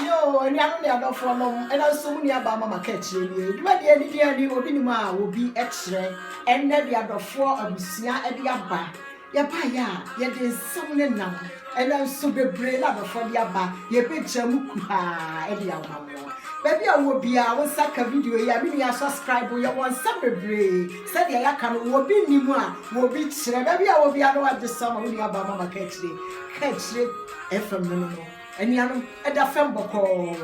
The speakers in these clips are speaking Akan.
Yo, anuanom ne adɔfoɔ nom, ɛna nso mo nua baa mama ka akyire nie. Dwuma deɛ ne deɛ ni obi nim a obi kyerɛ. Ɛnɛ de adɔfoɔ abusua de aba. Yɛba yɛ a, yɛde nsɛm ne nam. Ɛna nso bebree na adɔfoɔ de aba. Yɛbɛgya mu kuhaa de ama mo. Baabi a wɔ biara, wo nsa ka video yi a, me nua subscribe, yɛwɔ nsɛm bebree. Sɛdeɛ yɛaka no, obi nim a obi kyerɛ. Baabi a wɔ biara na wagye so ama wo nua baa mama ka akyire. Ka akyire FM no no no. Anuanom, ɛda fam bɔkɔɔ.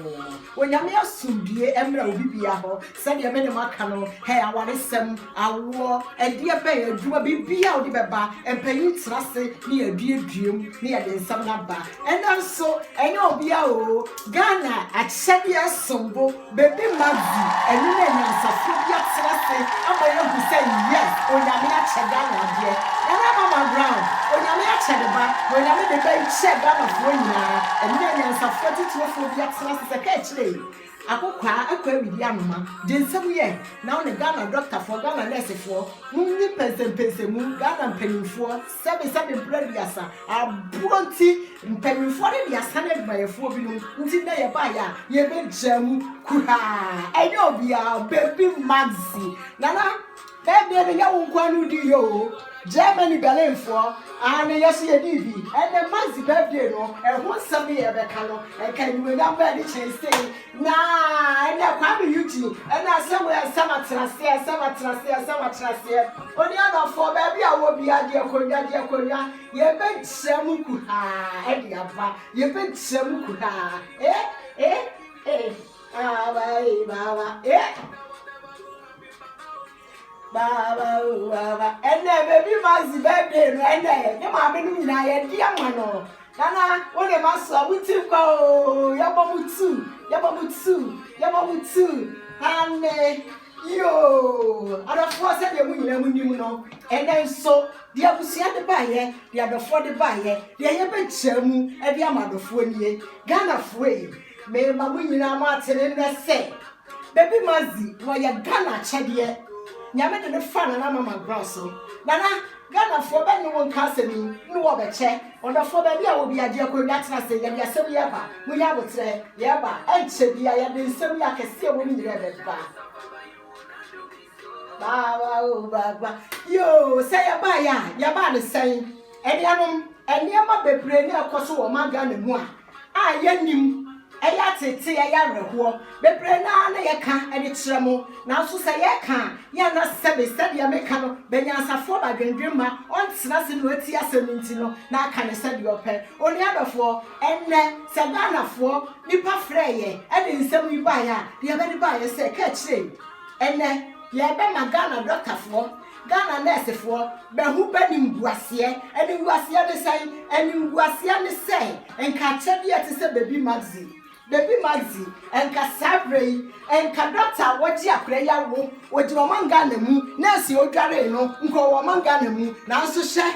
Onyame asomdwie mmra obi bia hɔ, sɛdeɛ me ne mo aka no, hɛ, awaresɛm, awoɔ, ɛdeɛ bɛn, adwuma, biribiara a wode bɛba, mpanyin tena ase ne yɛaduadua mu ne yɛde nsɛm no aba. Ɛnnɛ nso, ɛnyɛ obiara oo, Ghana akyɛdeɛ som bo. Baby Maggie ɛno na nyansafoɔ bi atena ase ama yɛahu sɛ yes Onyame akyɛ Ghana adeɛ. Nana Mama Brown Onyame akyɛ ne ba na Onyame ne ba yi kyɛɛ Ghanafoɔ nyinaa ɛno na nyansafoɔ atitirefoɔ bi atena ase sɛ ka akyire yi akokwaa akɔ awidi anoma deɛ nsɛm yɛ now ne Ghana dɔktafoɔ Ghana nɛɛsefoɔ mo nyi mpɛnsɛmpɛnsɛmu Ghana mpaninfoɔ Sɛbesɛbe bere aduasa aboro nti, mpanyimfoɔ no de asane adwumayɛfoɔ binom nti na yɛbaeɛ a yɛbɛgyaa mu kuhaa. Ɛnyɛ obiara, baabi Maxi. Nana, ɛnde no nyɛ wo nko ara na wodiiɛ o. Germany Berlinfoɔ, aane, yɛn nso yɛdii bi. Ɛnnɛ Maxi birthday no, ɛho nsɛm no yɛrebɛka no, nka animuonyam bɛn ne kyɛn sei. Na ɛnɛ Kwame Eugene ne asɛm wei ɛsɛ matena aseɛ ɛsɛ matena aseɛ ɛsɛ matena aseɛ onua dɔfoɔ baabi a wɔ biara deɛ konwa deɛ konwa yɛbɛgyina mu kuhaa ɛde aba yɛbɛgyina mu kuhaa eh eh eh aba eh baaba eh Baaba o baaba ɛnɛ baby Mercy birthday no ɛnɛ ne maame no nyinaa yɛde ama no nana wo ne ma so a mo ti nkwa o yɛbɔ mo tu yɛbɔ mo tu yɛbɔ mo tu ane yoo adɔfoɔ sɛdeɛ mo nyinaa mo nim no ɛnɛ nso deɛ abusua de baayɛ deɛ adɔfoɔ de baayɛ deɛ yɛbɛkyɛ mu ɛde ama adɔfoɔ nie ghanafoɔ yi mema mo nyinaa mo atene nnɛ sɛ Baby Mazzy wɔyɛ Ghana akyɛdeɛ Nyame de no faa Nana Mama Brown so Nana Ghana foɔ bɛ ne wo nka asɛm yi ne wɔ bɛ kyɛ ɔdɔfoɔ baabi a wɔ biaa deɛ kɔ ewia tena ase yɛde asɛm yi ɛba mo yɛ aboterɛ yɛ ba ɛnkyɛ biaa yɛde nsɛm yi akɛseɛ ɛwɔ mu nyinaa ɛbɛ ba baawa o baawa yoo sɛ yɛ baa yɛ a yɛ baa ne sɛn anuanom nneɛma bebree ne ɛkɔ so wɔ ɔman Ghana mu a a yɛnnim, ɛyɛ ateetee, ɛyɛ awerɛhoɔ, bebree no ara na yɛka de kyerɛ mo, nanso sɛ yɛreka a, yɛn na sɛbe, sɛdeɛ meka no, bɛnyansafoɔ ba dwendwen mma ɔntena ase na watie asɛm no nti no, na aka no sɛdeɛ ɔpɛ. Onua dɔfoɔ, ɛnnɛ, sɛ Ghanafoɔ nipa frɛɛ yɛn de nsɛm yi baeɛ a, deɛ yɛbɛde baeɛ sɛ, ka kyerɛ yi, ɛnnɛ, yɛrebɛma Ghana dɔktafoɔ Ghana nɛɛsefoɔ bɛho animguaseɛ. Animguaseɛ ne sɛn? Animguaseɛ ne sɛ nka akyɛdeɛ te sɛ baby magzi, baby magzi, nka saa berɛ yi nka dɔkta a wɔgye akora yi awo, ɔgyina ɔman Ghana mu, nɛɛse a ɔdwaree no nka ɔwɔ ɔman Ghana mu, nanso hyɛ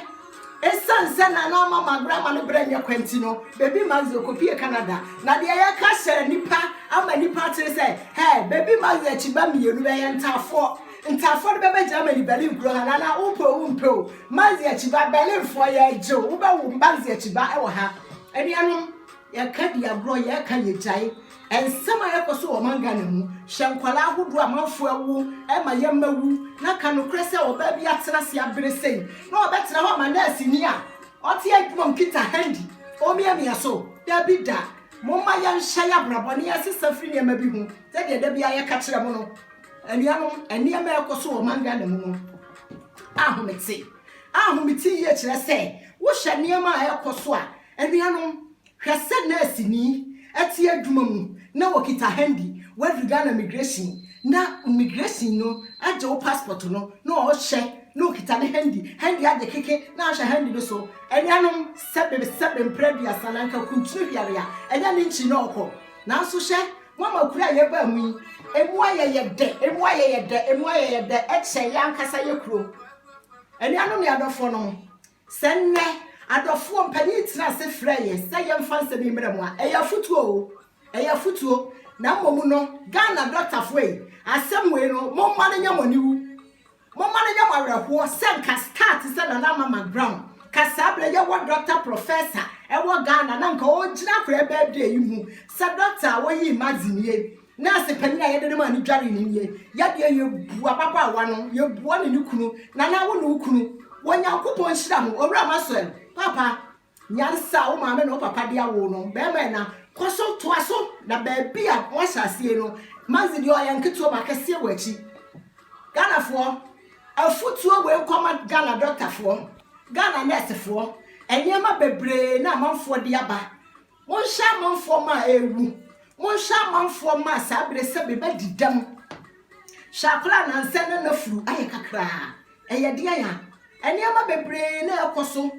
ɛsiane sɛ Nana ama magorɔ ama ne berɛ nyɛ kwa nti no, baby magzi ɔkɔpie Canada. Na deɛ yɛka hyɛ nnipa ama nnipa akyere sɛ, hɛ, baby magzi akyiba mmienu bɛyɛ ntaafoɔ. Nti afɔr no bɛba Germany Berlin kuro ha na na wopɛ o wommpɛ o mma ndzi akyi ba Berlin foɔ yɛɛgye o wobɛwo mba ndzi akyi ba ɛwɔ ha. Enuanom yɛka di agorɔ yɛɛka yɛgyae nsɛm a ɛkɔ so wɔ ɔman Ghana mu hwɛ nkwadaa ahodoɔ a amanfoɔ awo ɛma yɛmma wu na ka nokorɛ sɛ ɔbaa bi atena ase abere sei na ɔbɛtena hɔ ama nurse ni a ɔte adwuma mu kita handy ɔmiamia so dabi da momma yɛnhyɛ yɛabrabɔ na yɛnsesa firi nneɛma bi ho sɛdeɛ da biara yɛka kyerɛ mo no. Anuanom, nneɛma a ɛrekɔ so wɔ ɔman Ghana mu no ahomete. Ahomete yie kyerɛ sɛ wohwɛ nneɛma a ɛrekɔ so a, anuanom, hwɛ sɛ nɛɛseni te adwuma mu na wɔkita handi, woadu Ghana migration na migration no agye wo passport no na ɔrehwɛ na ɔkita ne handi, handi agye keke na ahwɛ handi no so. Anuanom, sɛbe sɛbe mprɛ aduasa na anka kuntunu hwɛre a, ɛnyɛ ne nkyi na ɔkɔ. Nanso hwɛ, Mama kuro a yɛbaa mu yi, emu ayɛ yɛ dɛ, emu ayɛ yɛ dɛ, emu ayɛ yɛ dɛ kyɛn yɛn ankasa yɛ kuro. Anuanom ne adɔfoɔ nom, sɛ nnɛ adɔfoɔ mpanyin tena ase frɛ yɛn sɛ yɛmfa nsɛm yi mmerɛ mo a, ɛyɛ afutuo o, ɛyɛ afutuo. Na mmom no, Ghana dɔktafoɔ yi, asɛm wei no, momma no nyɛ mo aniwu. Momma no nyɛ mo awerɛhoɔ sɛ nka star te sɛ Nana Ama McGraw ka saa berɛ yɛ wɔ Doctor Professor ɛwɔ Ghana na nka ɔregyina akwadaa birthday yi mu sɛ Doctor a wɔyii Mazi nie, Nurse panin a yɛde no maa ne dwaree no nie, yɛ deɛ yɛbu ababaawa no, yɛbua ne ne kunu, Nana wo ne wo kunu, Onyankopɔn nhyira mo, Owura Maxwell, Papa, Nyansa a wo maame ne wo papa de awo wo no, barima ɛna, kɔ so toa so, na baabi a woahyɛ aseɛ no, Maxi deɛ ɔyɛ nketewa ba, akɛseɛ wɔ akyi. Ghanafoɔ, afutuo wei nkɔma Ghana dɔktafoɔ, Ghana nɛɛsefoɔ, nneɛma bebree na amanfoɔ de aba, Monhyɛ amanfoɔ ma a ɛrewu. Monhyɛ amanfoɔ ma a saa berɛ sɛbe bɛdi dɛm. Hyɛ akwadaa nansɛ na n'afuru ayɛ kakraa. Ɛyɛ deɛn a? Nneɛma bebree na ɛrekɔ so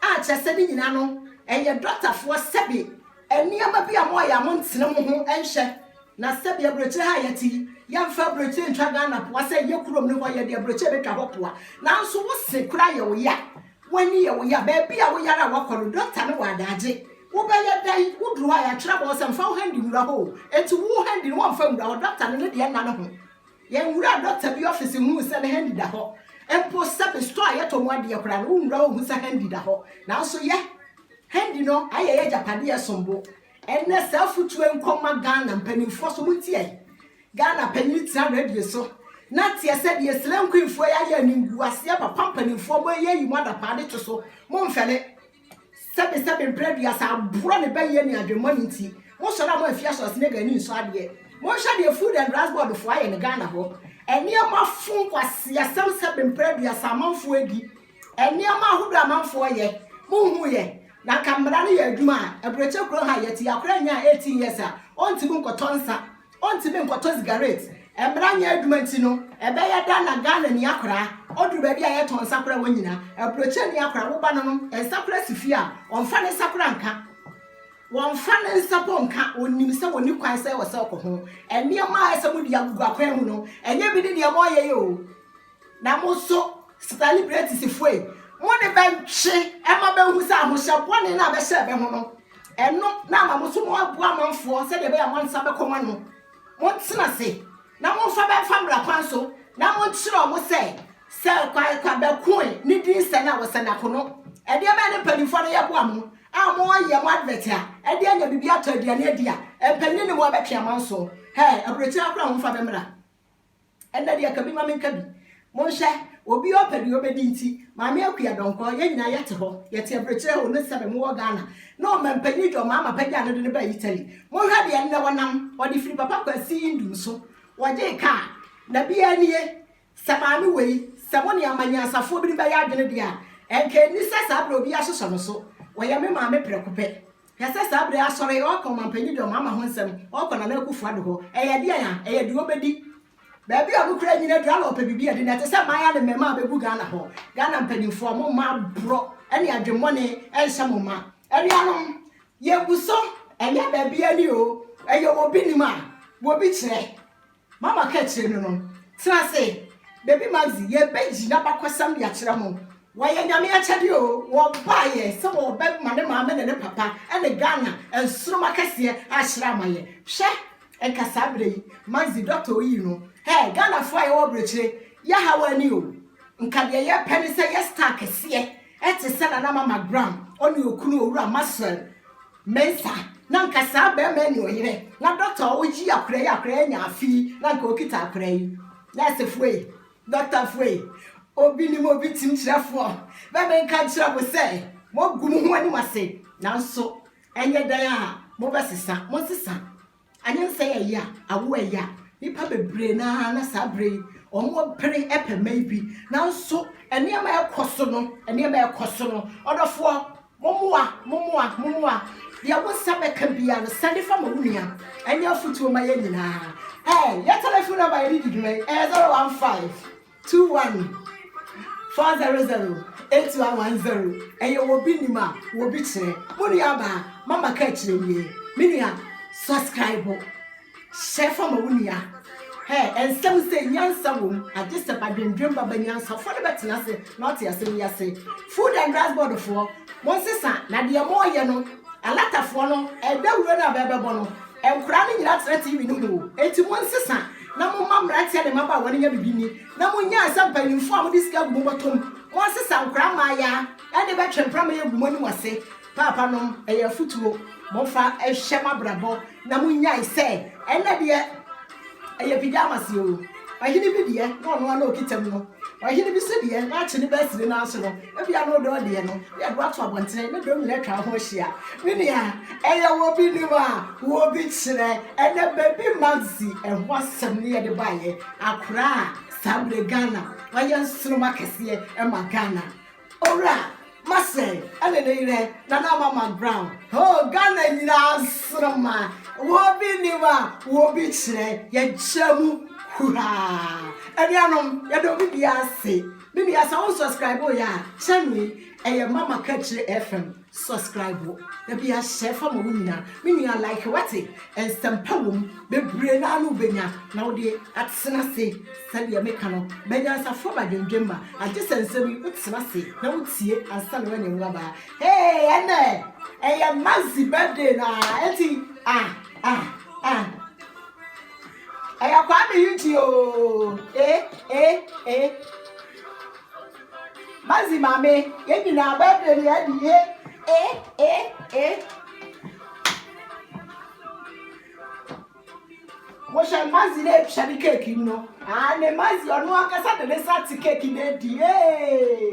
a kyerɛ sɛ ne nyinaa no, ɛyɛ dɔktafoɔ sɛbe nneɛma bi a moayɛ a montene mo ho nhyɛ. Na sɛbe aburokyire ha a yɛte yi, yɛmfa aburokyire ntwa Ghana poa sɛ yɛ kurom no hɔ yɛde aburokyire bɛtwa hɔ poa. Nanso wo se koraa yɛ wo ya. W'ani yɛ wo ya, baabi a woyare a woakɔ no, dɔkta ne wo adaagye. Wobɛyɛ dɛn? Woduru hɔ a, yɛatwerɛ bɔɔ sɛ, Mfa wo handi nwura hɔ o. Enti wo handi no, wɔmfa nwura hɔ. Dɔkta no, ne deɛ nna ne ho. Yɛnwuraa dɔkta bi ɔfese huu sɛ ne handi da hɔ. Mpo sɛbe store a yɛtɔ mu adeɛ koraa no, wonwura hɔ nhu sɛ handi da hɔ. Nanso yɛ, handi no ayɛ yɛn agyapadeɛ, ɛsom bo. Ɛnnɛ, saa afotuo yi nkɔma Ghana mpanimfoɔ so, montie yɛn. Ghana panyin tena radio so na teɛ sɛ deɛ slay queen foɔ yi ayɛ animguaseɛ papa mpanimfoɔ mo ɛyɛ yi mo adapaa de twe so mo mfɛle sɛbe sɛbe mprɛ aduasa aboa ne bɛyɛ ne adwemmɔ ne nti mo sɔre a mo afia sɔre snake ani nsɔ adeɛ mo nhwɛ deɛ food and drugs board foɔ ayɛ ne Ghana hɔ ɛnneɛma fo nkwasi asɛm sɛbe mprɛ aduasa amanfoɔ adi ɛnneɛma ahodoɔ amanfoɔ yɛ mo hu yɛ na nka mmara no yɛ adwuma a aburokyɛ kuro ha yɛte akora nyaa 18 years a ɔntumi nkɔtɔ nsa Ontumi nkɔtɔ sigaret. Mmara nyɛ adwuma nti no, ɛbɛyɛ dɛn na Ghanani akwadaa, ɔduru baabi a yɛtɔn nsakoraa wɔ nnyina, aburokyerɛni akwadaa, wo ba no no nsakoraa si fie a, ɔmfa ne nsakoraa nka? Ɔmfa ne nsa mpo nka. Onim sɛ ɔnni kwan sɛ ɔsɛ ɔkɔ ho. Nneɛma a ɛsɛ mode agugu akwan mu no, ɛnyɛ bi ne nneɛma ɔyɛ yi o. Na mo nso, selebritesfoɔ yi, mo ne bɛ ntwe mma bɛnhu sɛ ahohyɛ bɔne no a bɛhyɛɛ bɛ ho no, ɛno na ama mo nso moaboa amanfoɔ sɛdeɛ ɛbɛyɛ a mo nsa bɛkɔ mo ano. Montena ase, na momfa bɛ mfa mmara kwan so, na monkyerɛ wɔn sɛ, Sɛ Kwaekwa Bɛkoe ne din sɛn a, wɔsɛn ako no. Ɛdeɛ bɛn ne mpanimfoɔ no yɛ boa mo a moyɛ mo advert a ɛde anya biribi atɔ aduane adi a, mpanyin ne mo a bɛtwe amanso? Hɛɛ, aburokyire akora ho mfa bɛ mmra. Ɛnnɛ deɛ ka bi ma menka bi. Monhwɛ, obi a ɔpɛ deɛ ɔbɛdi nti, Maame Akua Donkor, yɛn nyinaa yɛte hɔ, yɛte abirekyire hɔ, ne sɛbe mowɔ Ghana, na Ɔmanpanyin John Mahama pagyaa no de no baa Italy. Monhwɛ deɛ nnɛ wɔnam, ɔde firi Papa Kwasi Nduom so, wɔgyee kaa, na biaa nie, sɛ maame wei, sɛ mo ne amanyansafoɔ binom bɛyɛ adwene deɛ a, ɛnka ɛnni sɛ saa berɛ obiaa sosɔ no so. Ɔyɛ me maame prɛko pɛ. Hwɛ sɛ saa bere asɔre, ɔɔkɔ ɔmampanyin dɔm ama ho nsɛm, ɔɔkɔ Nana Akufo-Addo hɔ. Ɛyɛ deɛn a? Ɛyɛ deɛ ɔbɛdi. Baabi a ɔno koraa nnyina aduru ara na ɔpɛ biribi adi. Na ɛte sɛ mmayewa ne mmarimaa a bɛgu Ghana hɔ. Ghana mpanyimfoɔ, mo mma aborɔ ne adwemmɔne nhyɛ mo ma. Anuanom, yɛabu so. Ɛnyɛ baabi ani o. Ɛyɛ obi nim a, obi kyerɛ. Mama ka kyerɛ no no, Tena ase, Baby Maxie, yɛrebɛgye n'abakɔsɛm de akyerɛ mo. Wɔyɛ Nyame akyɛdeɛ oo, wɔbaeɛ sɛ wɔrebɛma ne maame ne ne papa ne Ghana nsoromma kɛseɛ ahyerɛn ama yɛn. Hwɛ, ɛnka saa berɛ yi, Maxie, dɔkta oyii no. Hɛɛ, Ghanafoɔ a yɛwɔ aburokyire, yɛaha w'ani oo. Nka deɛ yɛrepɛ ne sɛ yɛ star kɛseɛ Ɛte sɛ Nana Mama Graham, ɔne okunu Owura Maxwell Mensah, na nka saa barima yi ne ɔyere, na dɔkta a ɔyi akwadaa yi a akwadaa yi anya afe yi, na nka ɔkita akwadaa yi. Nɛɛsefoɔ yi, dɔktafoɔ yi, obi nim obi kyimkyerɛfoɔ, na menka nkyerɛ mo sɛ, moagu mo ho anim ase, nanso ɛnyɛ dɛn a mobɛsesa, monsesa. Anyansɛe a ɛyɛ a, awo a ɛyɛ a, nnipa bebree no ara na saa bere yi wɔpere pɛ mma yi bi. Nanso nneɛma a ɛrekɔ so no, nneɛma a ɛrekɔ so no, ɔdɔfoɔ, mommoa, mommoa, mommoa. Deɛ wo nsa bɛka biara no, sɛne fa ma wo nua. Ɛnyɛ afotuo ma yɛn nyinaa. Ɛɛ, yɛn telephone number a yɛde di dwuma yi, ɛyɛ 015. Two one four zero zero eight one one zero ɛyɛ wɔ bi nim a wɔ bi kyerɛ mo nua baa mama ka kyerɛ wie me nua subscribe hyɛ fa ma wo nua hɛ ɛnsɛm sɛ nyansa wom agye sɛ badwendwen baba nyansafoɔ no bɛtena ase na ɔte ase ne ase food and drugs board foɔ mo nsesa na deɛ mo ɔyɛ no alatafoɔ no ɛdawuro no a bɛbɛbɔ no nkora no nyina tena tv no mu o enti mo nsesa na momma mmeranteɛ ne mmabaawa no nya biribi nni, na monnyae sɛ mpanimfoɔ a mode sika agu mo bɔtɔm, monsesa nkora mmaayaa, ɛnde bɛtwe mpramaya agu mo anim ase. Paapanom, ɛyɛ afotuo, momfa nhyɛ moabrabɔ, na monnyae sɛ, ɛnnɛ deɛ ɛyɛ pigyamaseɛ o, ɔhene bi deɛ, na ɔno ara na ɔkita mu no. Ɔhene bi so deɛ, waakye ne bɛs ne nan so no, ebia no dɔ deɛ no, yɛ de wato abɔntene, ne dɔm nyinaa atwa ho ahyia. Me nua, ɛyɛ wɔ bi nim a, wɔ bi kyerɛ. Ɛnɛ baby Maxi, ɛho asɛm ne yɛde baeɛ. Akora a, saa berɛ Ghana, wayɛ nsoromma kɛseɛ ma Ghana. Owura Massey ɛne ne yerɛ Nana Mama Brown hoo Ghana nyinaa nsoroma Wobi nim a wobi kyerɛ yɛkyɛ mu huhaa Anuanom yɛda obi biara ase Me nua sɛ wo subscribe yɛ a channel yi ɛyɛ Mama Kakyire FM Subscribe wo na bi ahyɛ fa ma wo nyina me nua like wate nsɛmpa wom bebree naa no wobɛnya na wode atena se sɛdeɛ meka no banyansafoɔ ba dwendwemma agye sɛ nsɛm yi wotena se na wotie ansa na wanya mu abaa hey ɛnɛ ɛyɛ mazi birthday no a ɛti ah ah ah ɛyɛ kwaa me yi nti ooo eh eh eh Mazi mame yɛn nyinaa birthday ni adi e e e e. Mohyɛ mazi na etua ne keeki no. Aa ne mazi ɔno ankasa de ne nsa te keeki na edi ee.